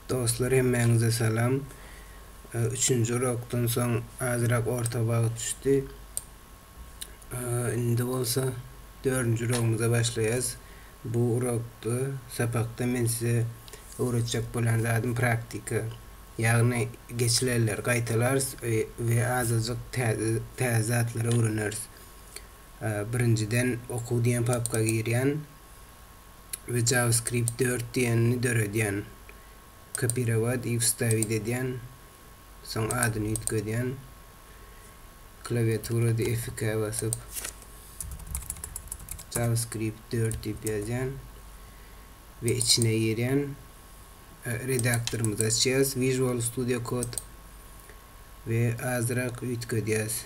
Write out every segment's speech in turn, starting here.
Dostlar hemmäňize salam. Üçünji urokdan soň azrak orta bagt düşdi. Indi bolsa dördünji urogumyza başlaýarys. Bu urokda, sapakda men size öwretjek bolan zadym praktika. Ýagny geçilenleri gaýtalarys we azajyk täze täze zatlary öwreneris. Birinjiden okuw diýen papka girýän. we JavaScript dört diýenini döredýän. Kopirowat i wstawit edýän. Soň adyny üýtgedýän. Klawiaturada F2 ä basyp JavaScript dört diýip ýazýan we içine girýän. Redaktorymyzy açýas. Visual Studio Code we azyrak üýtgedýäs.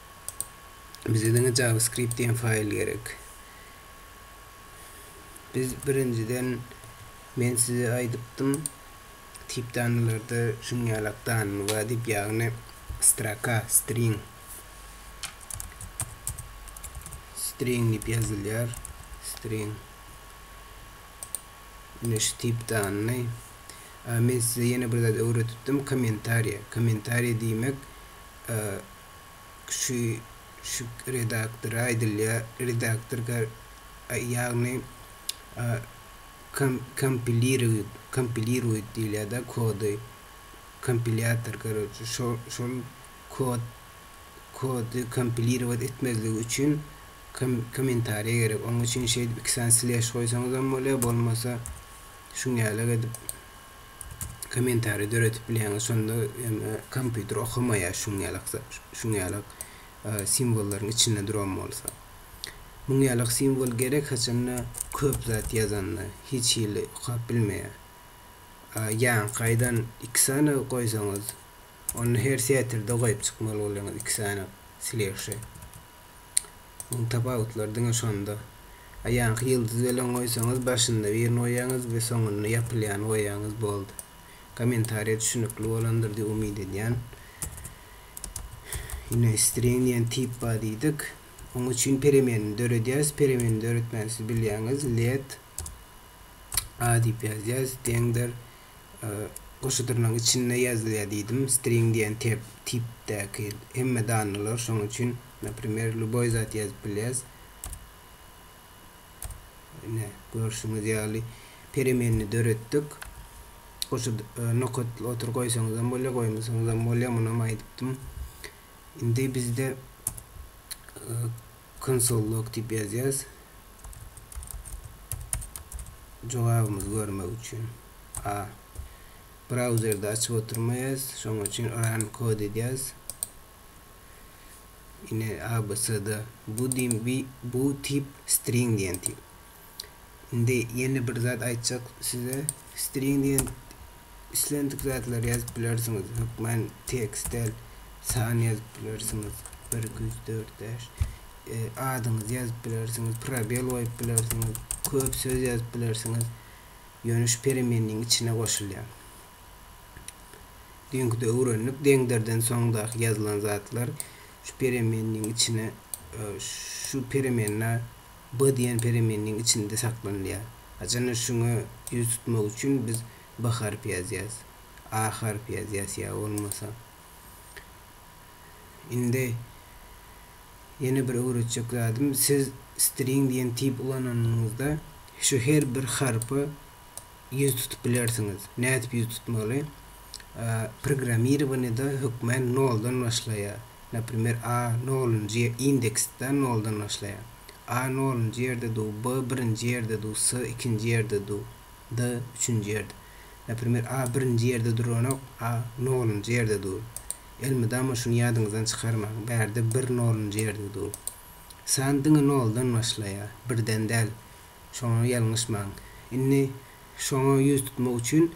Bize diňe JavaScript diýen faýl gerek. Biz birinjiden men size aýdypdym, tip danalarda şuň ýaly akdanyny bar diýip, ýagny stroka, string. String diýip ýazylýar. String. Ine şu tip danyny. Men size ýene bir zat öwredipdim, kommentariýa. Kommentariýa diýmek, Şyk redaktora aýdylýar, redaktor gar, ýagny kompilirowit, kompilirowit diýilýär-de kody, kompilýator karoçi, şol, şol kod, kody kompilirowat etmezlik üçin kom, kommentariýa gerek. Oň üçin şeýdip iki sany sleş goýsaňyzam bolýar, bolmasa şuňňalak edip. kommentariý döredip bilýäňiz şonda ýöne kompýuter okamaýar şuň ýalak şuň ýalak simwollaryň içinde duran bolsa muň ýalak simwol gerek haçanda köp zat ýazanda hiç hili okap bilmeýär ýaňky gaýdan iki sany goýsaňyz onda her setirde goýup çykmaly bolýaňyz iki sany sleşe Oň tapawutlary diňe şonda. Aýaňky ýyldyz welin goýsaňyz başynda birini goýaňyz we soňunda ýapylýany goýaňyz boldy. Kommentariýa düşünikli bolandyr diýip umyt edýän. Ine string diýen tip bar diýdik. Oň üçin peremenini döredýäs. Peremenini döretmäni siz bilýäňiz. Let a diýip ýazýas. Deňdir. goşudyrynyň içinde ýazylýar diýdim, string diýen tep, tipdäki hemme danalar, şonuň üçin, naprimer, lýuboý zat ýazyp bilýäs. Ine, görşüňiz ýaly, peremenni döretdik. Goşut, nokat otur goýsaňyzam bolýar, goýmasaňyzam bolýar, munam aýdypdym. Indi bizde Konsol log diýip ýazýarys. Jogabymyzy görmek üçin. A. Brauzerde açyp oturmaýarys. Şonuň üçin run kod edýäris. Ine abc-da bu diýim bu tip string diýen tip. Indi ýene bir zat aýtjak size. String diýen islendik zatlary ýazyp bilersiňiz. Hökman tekst däl, san ýazyp bilersiňiz. Bir, iki, üç, dört, bäş. E, adyňyzy ýazyp bilersiňiz, probel goýup bilersiňiz, köp söz ýazyp bilersiňiz. Ýöne şu peremenniň içine goşulýar. Düýnküde öwrendik, deňderden soňdaky ýazylan zatlar şu peremenniň içine e, şu peremenna B diýen peremenniň içinde saklanylýar. Haçanda şuňa ýüz tutmak üçin biz B harpy ýazýas. A harpy ýazýas ýa bolmasa. Indi ýene bir öwretjek zadym, siz string diýen tip ulananyňyzda şu her bir harpy ýüz tutup bilersiňiz. Nädip ýüz tutmaly? Programmirowaniýada hökmän noldan başlaýar. Naprimer, A nolunjy ýer, indeksde noldan başlaýar. A nolunjy ýerde du, B birinji ýerde du, S ikinji ýerde du, D üçünji ýerde. Naprimer, A birinji ýerde duranok, A nolunjy ýerde dur. Elmydama şuny ýadyňyzdan çykarmaň, bärde bir nolunjy ýerde dur. San diňe noldan başlaýar, birden däl. Şoňa ýalňyşmaň. Indi şoňa ýüz tutmak üçin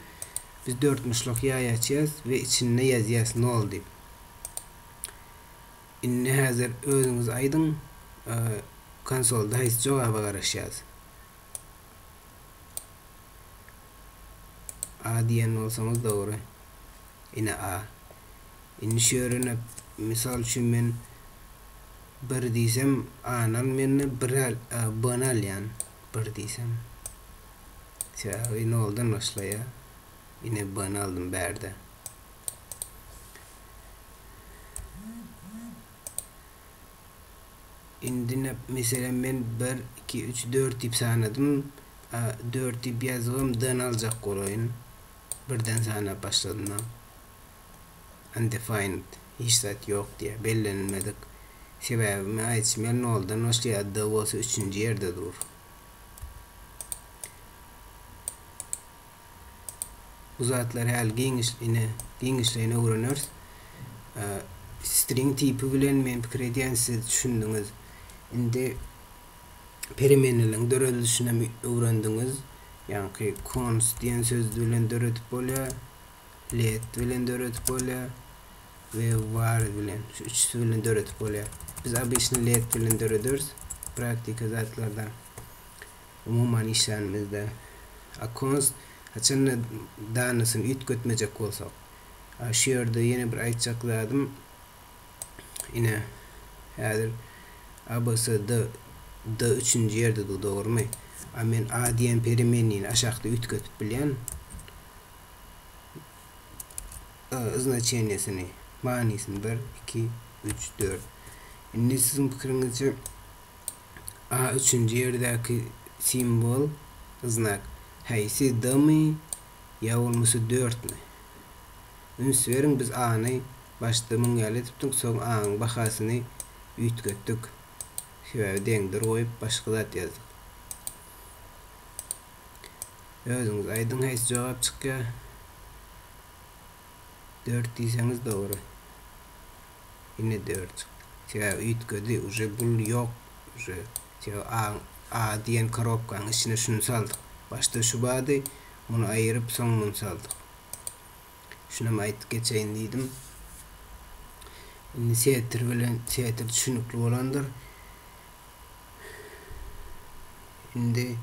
biz dörtmuşluk ýaý açýas we içinde ýazýas nol diýip. Indi häzir özüňiz aýdyň konsolda haýsy jogaba garaşýas. A diýen bolsaňyz dogry. Ine A. Indi şörene mysal üçin men bir diýsem A-ny almanda bir al B-ni alýan bir diýsem. Sebäbi noldan başlaýa. Ine B-ni aldym bärde. Indi näp meselem men bir iki üç dört diýip sanadym A dört diýip ýazybam D-ni aljak bolaýyn. Birden sanap başladym. undefined, hiç zat ýok diýýär, bellenilmedik. Sebäbi men aýdyşym ýaly noldan başlaýar, D bolsa üçünji ýerde dur. Bu zatlary häli giňişleýine, giňişleýine öwreneris. String tipi bilen men pikir edýän siz düşündiňiz. Indi peremeneleriň döredilişinem öwrendiňiz. Ýaňky const diýen söz bilen döredip bolýar. led bilen döredip bolýar we wire bilen. Şu üçüsi bilen döredip bolýar. Biz обычно led bilen dörederis praktika zatlarda. Umuman işlänimizde akons haçanda danasyny üýtgetmejek bolsak. Şu ýerde ýene bir aýtjak zadym ine häzir ABCD D üçünji ýerde dur dogrumy? A men A diýen peremennyny aşakda üýtgetip bilýän. znaçeniýesini, manysyny bir, iki, üç, dört. Indi siziň pikiriňizçe A üçünji ýerdäki simwol, znak, häýsi D-mi ýa bolmasa dörtmi? Üns beriň, biz A-ny başda müň ýaly tutdyk, soň A-nyň bahasyny üýtgetdik. Sebäbi deňdir goýup başga zat ýazdyk. Özüňiz aýdyň haýsy jogap çykýar? 4 diýseňiz dogry. Ine 4 çykdy. Sebäbi üýtgedi, uje bul ýok. Uje sebäbi A, A diýen korobkanyň içine şuny saldyk. Başda şu bardy, muny aýyryp soň muny saldyk. Şunam aýdyp geçeýin diýdim. Indi setir bilen setir düşünikli bolandyr. Indi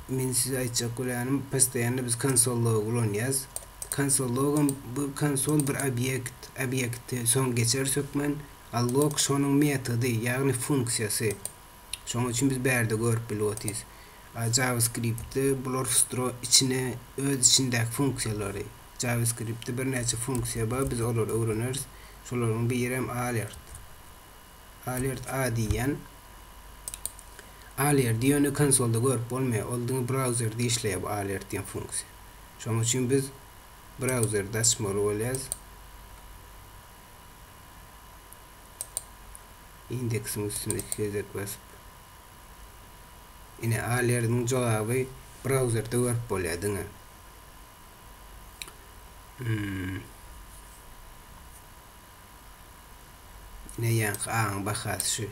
men size aýtjak bolýanym, postoýanno biz konsol logy ulanýas. Konsol logam bu konsol bir obýekt, obýekti soň geçer sökmen, a log şonuň metody, ýagny funksiýasy. Şonuň üçin biz bärde görüp bilip otyrys. A JavaScript-de bular wstro içine öz içindäki funksiýalary. JavaScript-de birnäçe funksiýa bar, biz olary öwreneris. Şolaryň birem alert. Alert A diýýän. Alerti ýöne konsolda görüp bolmaýar. Ol diňe brauzerde işleýär bu alert diýen funksiýa. Şonuň üçin biz brauzerde açmaly bolýarys. Indeksiň üstüne iki gezek basyp. Ine alertiň jogaby brauzerde görüp bolýar diňe. Hmm. Ine ýaňky aňyň bahasy şu.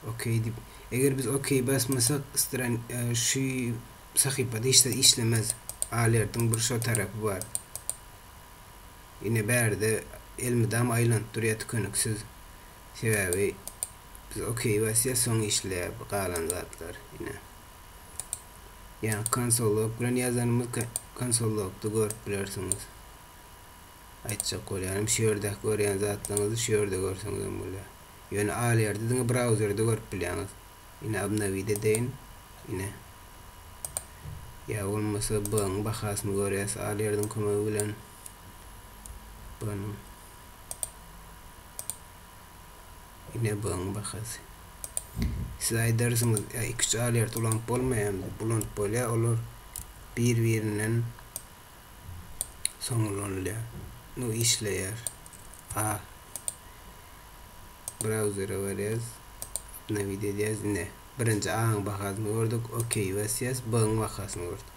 OK diýip. Eger biz OK basmasak, stran şu sahypada hiç zat işlemez. Alertiň bir şo tarapy bar. Ine bärde elmydam aýlanyp durýar tükeniksiz. Sebäbi biz OK basýas, soň işleýär bu galan zatlar. Ine. Ýa konsol log bilen ýazanymyz konsol logda görüp bilersiňiz. Aýtjak bolýanym şu ýerdäki görýän zatlaryňyzy şu ýerde görseňizem bolýar. Ýöne al ýerde diňe brauzerde görüp bilýäňiz. Ine obnowid edeýin. Ine. Ýa bolmasa B-nyň bahasyny görýäs al ýerdiň kömegi bilen. B-nyň. Ine B-nyň bahasy. Siz aýdarsyňyz, ýa iki-üç al ýerde ulanyp bolmaýarmy diýip. Ulanyp bolýar, olar bir-birinden soň ulanylýar. Bu işleýär. A. Brauzere barýarys. Obnowit edýäris. Ine, birinji A-nyň bahasyny gördük. OK basýarys. B-nyň bahasyny gördük.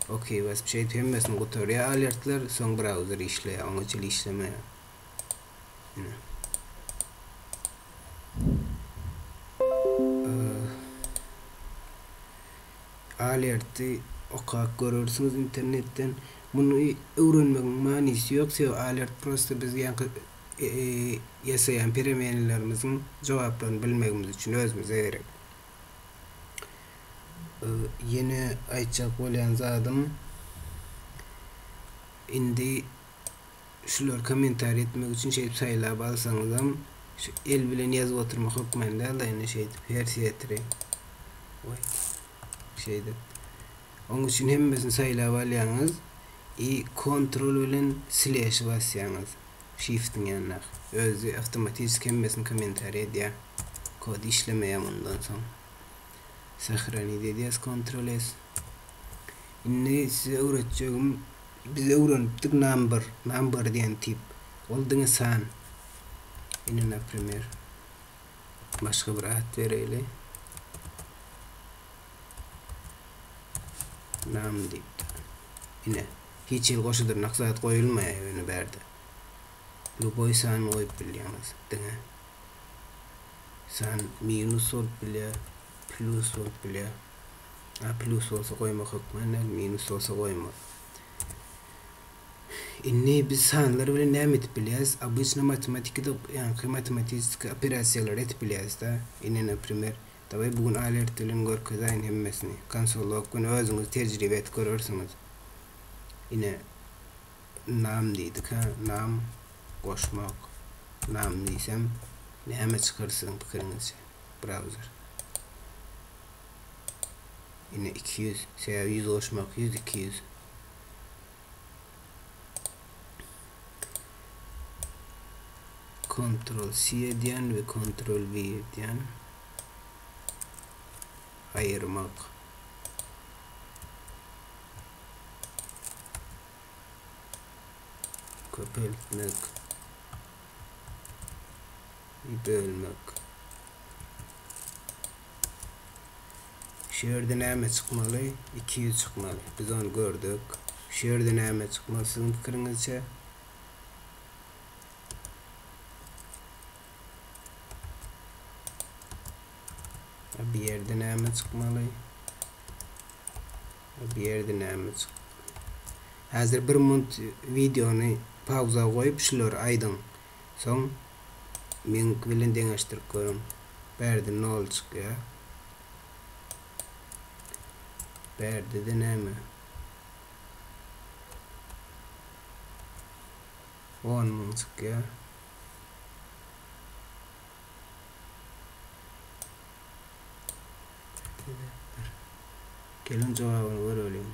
OK basyp, şeýdip hemmesini gutarýar alertler, soň brauzer işleýär, oňa çenli işlemeýär. Alerty okap görersiňiz internetden. Muny öwrenmegiň manysy ýok, sebäbi alert prosta biz ýaňky ýasaýan peremenelerimiziň jogaplaryny bilmegimiz üçin özümize gerek. Ýene aýtjak bolýan zadym indi şulary kommentariýa etmek üçin şeýdip saýlap alsaňyzam şu el bilen ýazyp oturmak hökmany däl-de ýöne şeýdip her setri oý şeýdip oň üçin hemmesini saýlap alýaňyz i kontrol bilen sleşi basýaňyz şiftiň ýanyndaky özi awtomatiski hemmesini kommentariýa edýär kod işlemeýär mundan soň. Sahranit edýäs kontrol es. Indi size öwretjegim biz öwrenipdik number number diýen tip ol diňe san. Indi naprimer başga bir at bereýli. Nam diýip. Ine hiç hil goşa dyrnak zat goýulmaýar ýöne bärde. Luboý san goýup bilýäňiz diňe. Sen minus bolup bilýär, plus bolup bilýär. A plus bolsa goýmak hökman däl, minus bolsa goýma. Indi biz sanlar bilen näme edip bilýäris? Обычно matematikada ýaňky matematistiki operasiýalary edip bilýäris-de. Indi, naprimer, dawaý bu gün alert bilen görkezäýin hemmesini. Konsolok gün özüňiz tejribe et görersiňiz. Ine, Nam diýdikä, nam, goşmak, nam diýsem, näme çykar siziň pikiriňizçe? Browser. Ine iki ýüz, sebäbi ýüz goşmak ýüz, iki ýüz. Ctrl C edýän we Ctrl V edýän. Aýyrmak. köpeltmek, bölmek. Şu ýerde näme çykmaly? 200 çykmaly. Biz ony gördük. Şu ýerde näme çykmaly siziň pikiriňizçe? Bu ýerde näme çykmaly? Bu ýerde näme çyk. Häzir bir munt wideony pauza goýup şulary aýdyň. Soň meňki bilen deňeşdirip görüň. Bärde nol çykýar. Bärdede näme? 10 müň çykýar. Geliň jogabyny göreliň.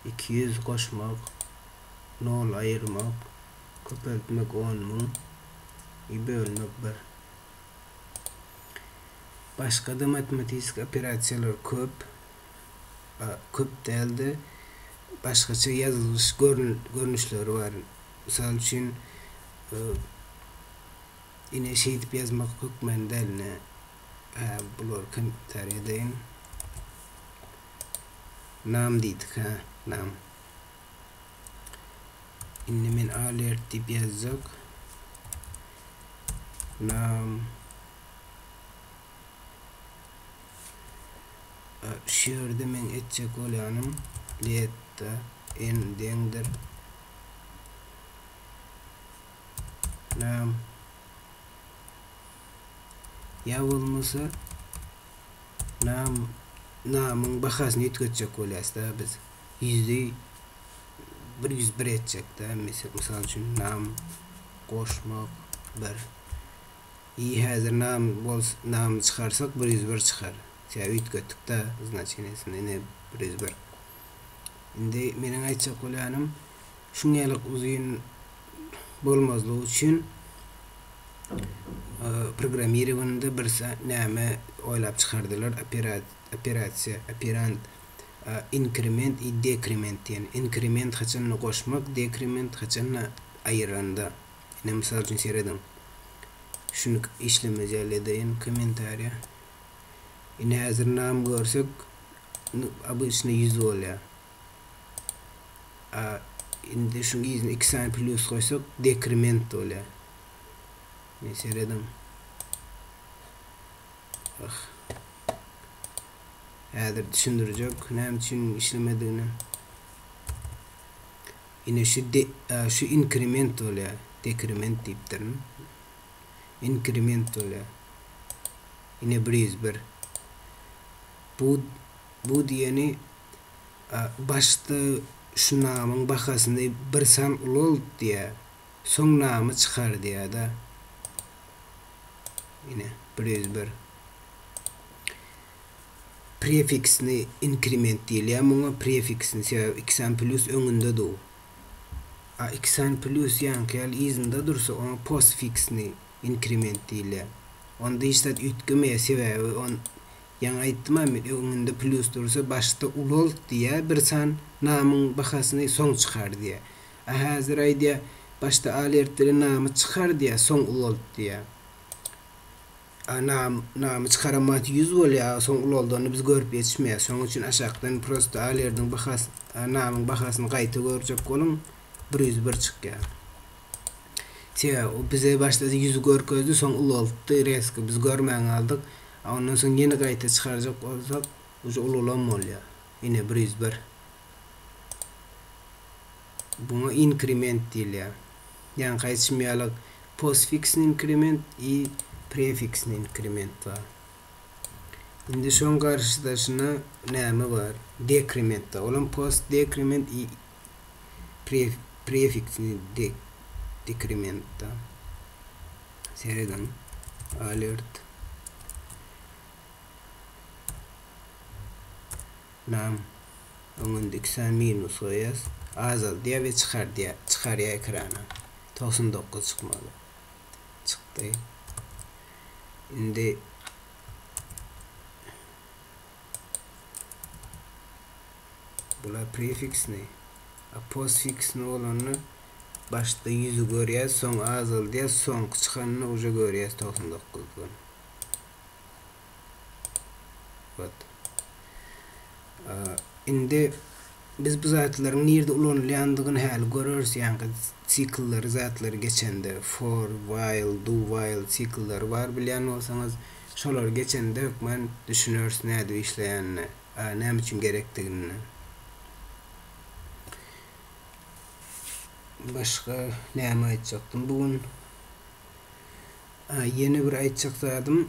Iki ýüz goşmak, nol aýyrmak, köpeltmek on müň, i bölmek bir. Başga-da matematisik operasiýalar köp. Köp däl-de, başgaça ýazylyş görnüşleri bar. Mysal üçin, Ine şeýdip ýazmak hökmany däl ine hä bulary kommentariýa edeýin. Nam diýdik hä nam. Indi men alert diýip ýazjak. Nam şu ýerde men etjek bolýanym let da n deňdir Lam ýa bolmasa Lam Lamyň bahasyny üýtgetjek bolýasda biz ýüzi bir ýüz bir etjekde mysal üçin Lam goşmak bir i häzir Lam bols Lam çykarsak bir ýüz bir çykar sebäbi üýtgetdikde znaçeniýesini indi bir ýüz bir indi meniň aýtjak bolýanym şuňňalyk uzyn bolmazlygy üçin programmirowanda bir näme oýlap çykardylar operasiýa operand inkrement i dekrement diýen inkrement haçanda goşmak dekrement haçanda aýyranda ine mysal üçin serediň şuny işlemez ýaly edeýin kommentariýa ine häzir nam görsek obычny ýüz bolýar. A, indi şuň yzyna iki sany plýus goýsak, dekrement bolýar. Men serediň. Ah. Häzir düşündirjek, näme üçin işlemedigini. Ine şu de, a, şu inkrement bolýar. Dekrement diýipdirin. Inkrement bolýar. Ine 101. Bu, bu diýeni, a, başda şu namyň bahasyny bir san ulalt diýýär, soň namy çykar diýýär-de. Ine, bir ýüz bir. Prefiksni inkrement diýilýär muňa, prefiksni, sebäbi iki san plýus öňünde dur. A iki san plýus ýaňky ýaly yzynda dursa, oňa postfiksni inkrement diýilýär. Onda hiç zat üýtgemeýär, sebäbi on Ýaňy aýtdymam öňünde plus dursa başda ulolt diýýä bir san namyň bahasyny soň çykar diýýä. A häzir aýdýa başda alert bilen namy çykar diýýä soň ulolt diýýä. A nam namy çykaran wagty ýüz bolýa a soň uloldany biz görüp ýetişmeýäs şonuň üçin aşakdan prosta alerdiň bahas a namyň bahasyny gaýta görjek boluň bir ýüz bir çykýa. Sebäbi o bize başda ýüzi görkezdi soň uloltdy reski biz görmän galdyk A ondan soň ýene gaýta çykarjak bolsak uje ulalam bolýar. Ine bir ýüz bir. Buňa inkrement diýilýär. Ýaňky aýtşym ýaly postfiksny inkrement i prefiksny inkrement bar. Indi şoň garşydaşyna näme bar? Dekrement bar. Olam postdekrement i prefiksini dekrementda serediň, alert nam öň öndeki san minus goýas, azaldýar we çykardýar, çykarýar ekrana, togsan dokuz çykmaly, çykdy. Indi. Bular prefiksni. A postfiksni bolanda başda ýüzi görýäs, soň azaldýas, soňky çykanda uje görýäs togsan dokuzdan. Wot. Indi Biz bu zatlaryň nirde ulanylýandygyny häli göreris, ýaňky siklleri, zatlary geçende, for, while, do while siklleri bar bilýän bolsaňyz, şolary geçende hökman düşüneris nädip işleýänine, a näme üçin gerekdigine. Başga näme aýtjakdym bu gün? A ýene bir aýtjak zadym.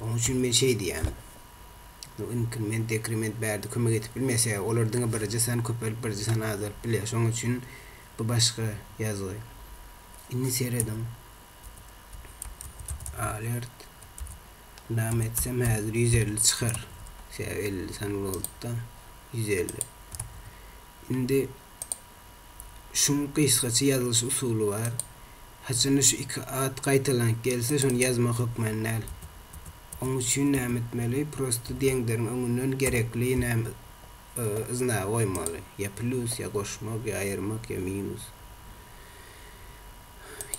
Onuň üçin men şeý diýýän. Bu inkrement, dekrement bärde kömek edip bilmese, olar diňe birje sany köpelip, birje sany azalyp bilýär. Şonuň üçin bu başga ýazgy. Indi serediň. Alert. Name etsem häzir ýüz elli çykar. Sebäbi elli sany bolupdy. Ýüz elli. Indi şuň gysgaça ýazylyş usuly bar. Haçanda şu iki at gaýtalanyp gelse, şony ýazmak hökmany däl. Oň üçin näme etmeli? Prosta diýenleriň öňünden gerekli näme znagy goýmaly. Ýa plýus, ýa goşmak, ýa aýyrmak, ýa minus.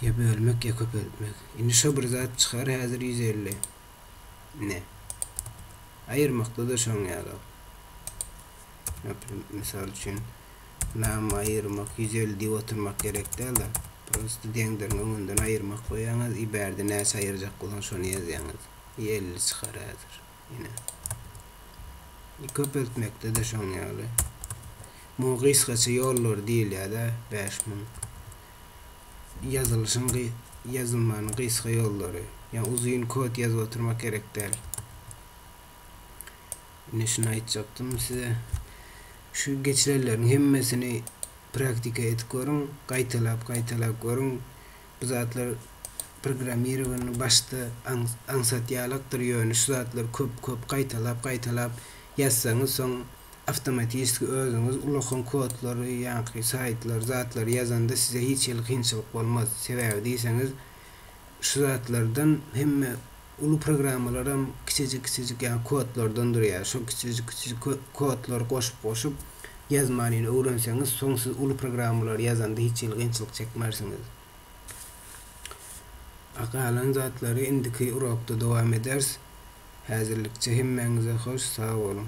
Ýa bölmek, ýa köpeltmek. Indi şo bir zat çykar, häzir ýüz elli. Ine. Aýyrmakda-da şoň ýaly. Naprim, mysal üçin. Name aýyrmak ýüz elli diýip oturmak gerek dälda prosto deňderiň öňünden aýyrmak goýýaňyz i bärde näçe aýyrjak bolan şony ýazýaňyz i elli çykar häzir ine i köpeltmekdede şoň ýaly muňa gysgaça ýollary diýilýäda bäş müň ýazylyşyň ýazylmanyň gysga ýollary ýa uzyn kod ýazyp oturmak gerek däl ine şuny aýtjakdym size Şu geçirenleriň hemmesini praktika edip görüň, gaýtalap-gaýtalap görüň. Bu zatlar programmirowanyny başda aňsat ýalakdyr, ýöne şu zatlary köp-köp gaýtalap-gaýtalap ýazsaňyz, soň awtomatiski özüňiz ulakan kodlary, ýaňky saýtlary, zatlary ýazanda size hiç hili kynçylyk bolmaz. Sebäbi diýseňiz, şu zatlardan hemme uly programmalaram kiçijik-kiçijik ýa kodlardan durýar. Şo kiçijik-kiçijik kodlary goşup-goşup ýazmanyny öwrenseňiz, soň siz uly programmalary ýazanda hiç hili kynçylyk çekmersiňiz. A galan zatlary indiki urokda dowam eders. Häzirlikçe hemmäňize hoş sag boluň.